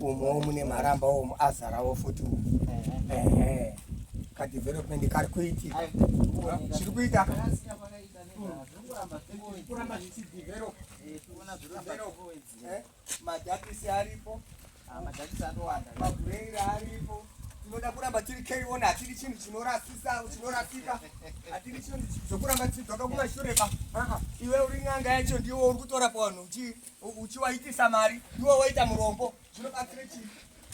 umowo mune maramba omu azarawo futi ehe kadevelopment kari kuitika chiri kuita kuramba zvichidevelop madhakisi aripo madhakisi atowanda mabhureri aripo tinoda kuramba tiri keiona hatiri chinhu chinorasisa chinorasika hatiri chinhu zvokuramba tichidzoka kumashure pa iwe uri n'anga yacho ndiwo uri kutora pavanhu uchi uchiwaitisa mari iwe waita murombo zvinobatsira chii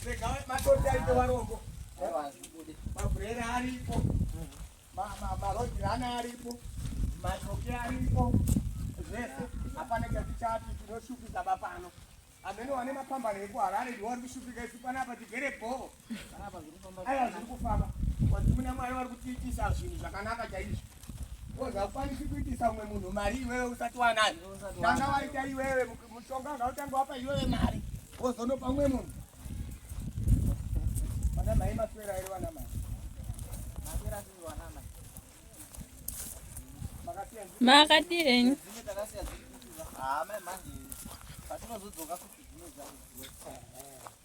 rega matoti aite varombo mabhurera aripo marodirana aripo matoke aripo zvese hapana chatichati tinoshupika bapano amene wane mapambano ekuharare ndiwari kushupika isu panapa tigere bhoo aya zviri kufamba kwanzi muna mwari vari kutiitisa zvinhu zvakanaka chaizvo ozakwanisi kuitisa umwe munhu mari iwewe usati wanayo tanga waita iwewe mushonga ngautanga wapa iwewe mari ozonopa umwe munhu vana mai maswera ere vana mai makadii henyu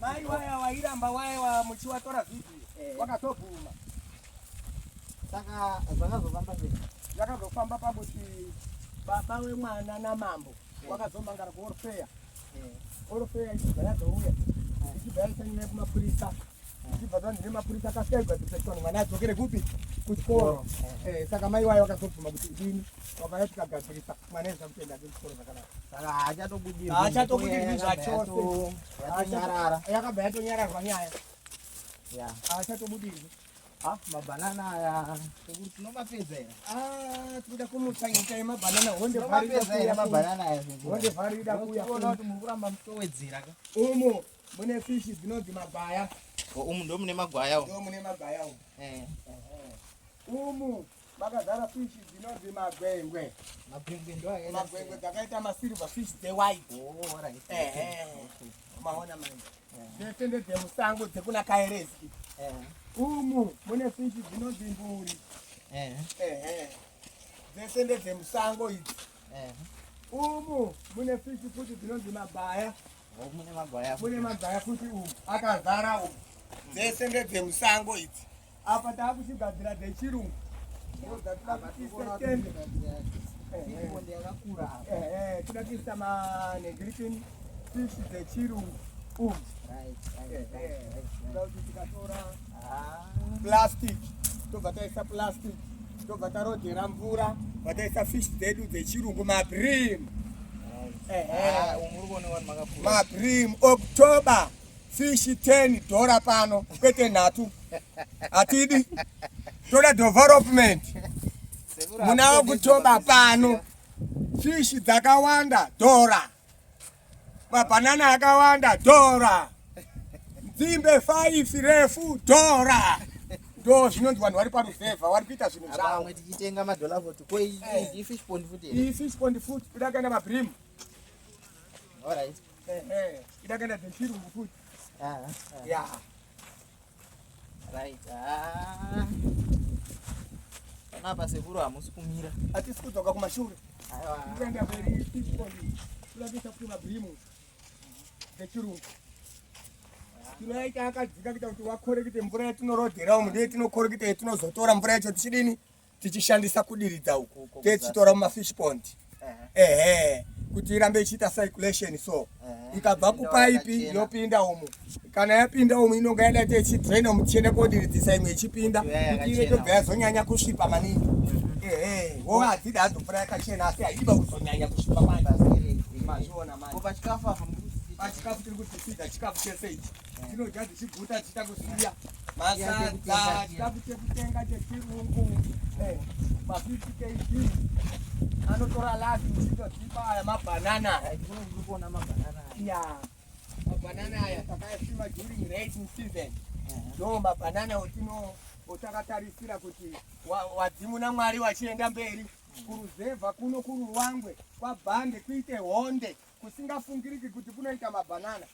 Mai waya wairamba waya wa muchiwatora vipi eh. wakatobvuma saka zvakazofamba sei zvakazofamba pakuti baba wemwana namambo wakazomangara kuorfeya orofeya ichibva yazouya ichibva yaisanyima kumapurisa ichibva zvanzi nemapurisa akasiya igadzipeswa mwana adzokere kupi kuchikoro eh, saka mai wayo vakazobvuma kuti idini vakaya tikagadzirisa mwana ezva kutoenda ke kuchikoro zvakanaka saka haachatobudirwi zvachose yakabva yatonyararwa nyaya haachatobudirwi Ah, mabanana aya tinomapedza here? Ah, tikuda kumutsaita yemabanana honde pari ida kuuya mabanana aya. Honde pari ida kuuya. Unoona kuti muri kuramba mutowedzera ka. Umu mune fish dzinonzi magwaya. Umu ndo mune magwaya umu. Ndo mune magwaya umu. Eh. Umu makazara fish dzinonzi magwengwe magwengwe ndo ayena magwengwe dzakaita masilver fish dze white oh all right eh eh maona manje dzese eh. dze musango dzekuna kaereski eh umu mune fish dzinonzi mburi eh eh, eh. dzese dze musango idzi eh umu mune fish futi dzinonzi mabaya mune magwaya mune magwaya futi umu akazara umu dzese ndedzemusango idzi apa taakuchigadzira dzechirungu tinoda kuisa manegritin fish dzechirungu umu tikatora plastic tobva taisa plastic tobva tarodhera mvura vataisa fish dzedu dzechirungu mabrim ah, mabrim october fish 10 dhora pano kwete nhatu hatidi toda development muna october pano fish dzakawanda dhora Mabanana akawanda dhora. Nzimbe 5 refu dhora. Ndo zvinonzi vanhu vari paruzevha vari kuita zvinhu Apa zvavo. vamwe tichitenga madollar vote ko iyi Eh. iyi fish pond futi here? Iyi fish pond food ida kaenda mabrim. alright Eh eh. Ida kaenda dzechirungu food. Ah, ah. Yeah. Right. Ah. Panapa sekuru hamusi kumira. Hatisi kudzoka kumashure. Aiwa. Kuenda mberi tiponi. Kulavisa kuti mabhimu. Vechirungu. Tinoita akadzika kuita kuti wakorekete mvura yatinorodhera umu ndiye tinokoreketa yatinozotora mvura yacho tichidini? tichishandisa kudiridza uku techitora mumafish pond ehe kuti irambe ichiita circulation so ikabva kupaipi yopinda umu kana yapinda umu inonga yada ite ichidraina umu tichienda kodiridzisa imwe ichipinda kuti ive tobva yazonyanya kusvipa maningi mm-hmm. ehe wo hadzida hadzo mvura yakachena asi haidiba kuzonyanya kusvipa manje mazviona manje pachikafu tiri kutisida chikafu chese ichi tinodya tichiguta tichita kusiya masadza tida kutenga chechirungu eh, mafifty kg anotora lavi tichitotipa aya mabhanana kuona mabhanana ya mabhanana aya takayasima during raising season ndo mabhanana otino otakatarisira kuti wadzimu namwari wachienda mberi kuruzevha kuno kuruwangwe kwabhande kuite honde kusingafungiriki kuti kunoita mabhanana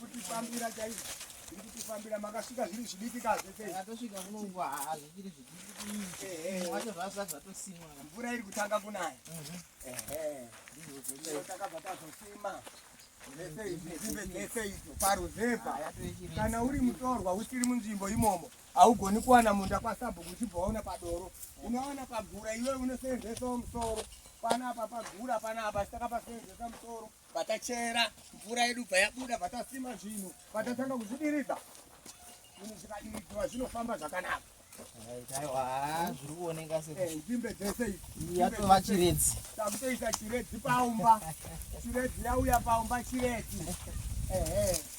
kutifambira chaizvo iri kutifambira makasvika zviri zvidiki kazvetosvika kunongwa hazvichiri zvidikiwacho zvasati zvatosimwa mvura iri kutanga kunaya takabva tazosima paruzevha kana uri mutorwa usiri munzvimbo imomo haugoni kuwana munda kwasabhuku uchibva waona padoro unowana pagura iwe unoseenzesa musoro panapa pagura panapa saka paseenzesa musoro Patachera mvura yedu bva yabuda patasima zvinhu patatanga kuzvidiridza zvinhu zvikadiridzwa zvinofamba zvakanaka zviri kuoneka senzvimbe eh, dzese yatova chiredzi takutoisa chiredzi paumba chiredzi yauya paumba chiredzi ehe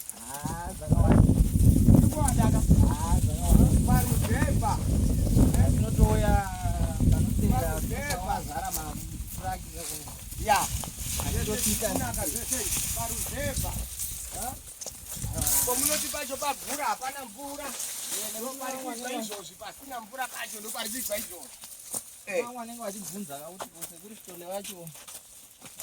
komunoti pacho pagura hapana mvura ndoparikizwa izvozvi pasina mvura pacho ndoparikizwa izvozvi eh. wanenge vachibvunza kuti kose kuri sitone vacho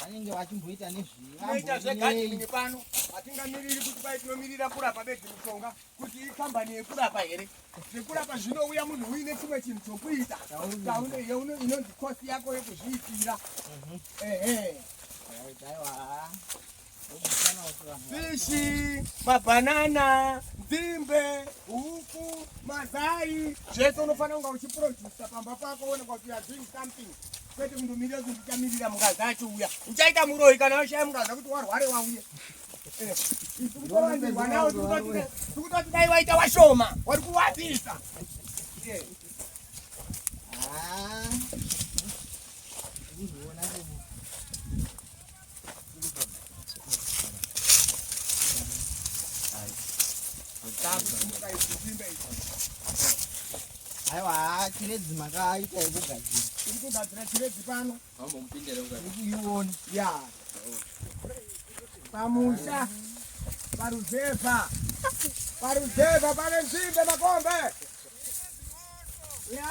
vanenge vachimboita nezvinoita zvegadini pano hatingamiriri kuti pai tinomirira kurapa bedzi mushonga kuti ikambani yekurapa here zvekurapa zvinouya munhu uine chimwe chinhu chokuita inonzi kosi yako yekuzviitira mhm. ehe aiwa fishi, mabanana, nzimbe, huku, mazai zvese unofanira kunga uchiprodusa pamba pako uone kuti you are doing something kwete kundomirira kuti ndichamirira mungazi acho uya uchaita muroyi kana washaya mungazi kuti warware wauye eh, tikutowandirwa nawo tikutoti dai waita washoma wari kuwadzisa eh. ah. aiwa chirezi makaita yekugadzira tiri kugadzira chirezi pano ione ya pamusha paruzevha paruzevha pane nzvimbe makombe ya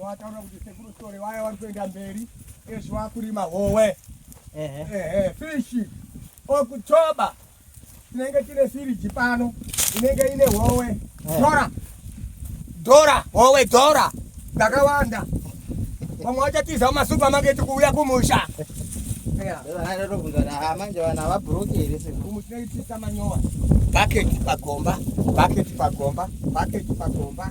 Wataura kuti sekuru story waya wari kuenda mberi ezvo wakurima howe. Ehe. Ehe, fish. Okutoba. Tinenge tine firiji pano. Inenge ine howe. Dora. Dora, howe dora. Ndakawanda. Vamwe vachatiza kumasupamaketi kuuya kumusha. manje vana vabhuroki here sekumuchinoitisa manyowa paketi pagomba paketi pagomba paketi pagomba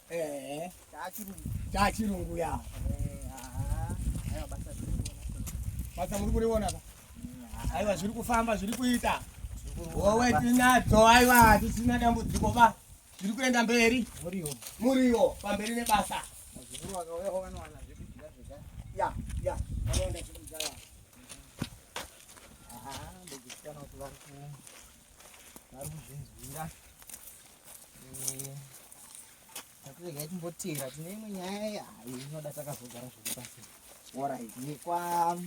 Eh, chachirungu. Chachirungu ya. Eh, ah. Ayo basa zviri kuona. Basa muri kuriona ka? Mm, Aiwa zviri kufamba zviri kuita. Wowe tinadzo aiwa hatisina dambudziko ba. Zviri kuenda mberi. Muriwo. Muriwo pamberi nebasa. Zviri wakauya wakawana zvekudya zvega. Ya, ya. Wakaenda zvekudya ya. Ah, ndikusikana kuti vari ku vari kuzvinzwira. Eh. Regai timbotera tine imwe nyaya hayo inoda takazogara zviri pasi. Alright, yekwa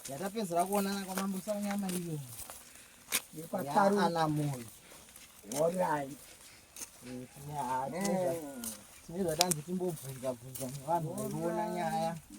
yatapedzera kuonana kwamambo Sanyama iyo. Yekwa Taru ana Moyo. Alright. Tine zvatanzi timbobvunza bvunza nevanhu vaiona nyaya.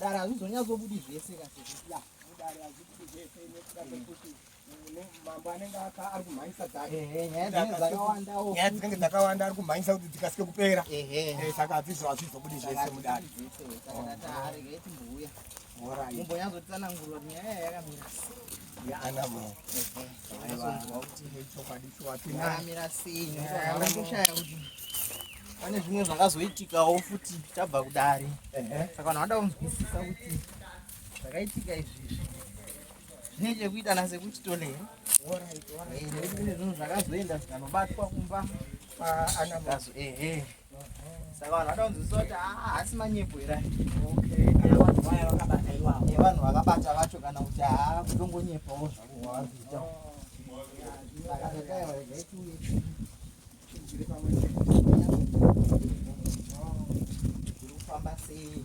Dara hazvizonyatsobudi zvese kaseya mudare hazvibudi zvese nekuda kwekuti mambo anenge ari kumhanyisa dzakenyaya dzinenge dzakawanda ari kumhanyisa kuti dzikasike kupera saka hazvizvo hazvizobudi zvese mudare mumbo nyazotsanangurwa nyaya yakamira yaanamo pane zvimwe zvakazoitikawo futi tabva kudare saka vanhu vada kunzwisisa kuti zvakaitika izvizvi zvine chekuita nasekuti tole nekuti kune zvinhu zvakazoenda zvikanobatwa kumba kwaanamazo ehe saka vanhu vada kunzwisisa kuti haasi manyepo here vanhu vakabata vacho kana kuti haa kutongonyepawo zvavo vavari kuita kufamba sei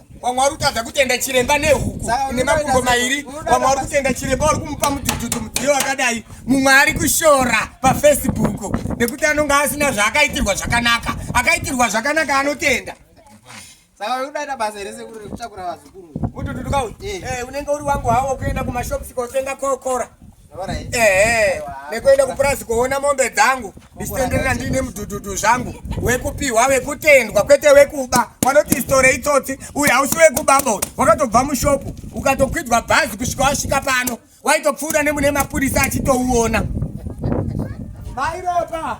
vamwe vari kutadza kutenda chiremba nehuku nemakumbo mairi vamwe vari kutenda chiremba vari kumupa mudhudhudhu mudziyo wakadai mumwe ari kushora pafacebook nekuti anonge asina zvaakaitirwa zvakanaka akaitirwa zvakanaka anotenda saka udaita basa here sekuru rekutakura vazukuru utututuka uyu eh. eh, unenge uri wangu hawo kuenda kumashops kotenga kokora ehe nekuenda kupurazi kuona mombe dzangu ndichitenderera ndiine mudhudhudhu zvangu wekupiwa wekutendwa kwete wekuba wanoti istore itsotsi uyu hausi wekuba bo wakatobva mushopu ukatokwidzwa bhazi kusvika wasvika pano waitopfuura nemune mapurisa achitouona mairopa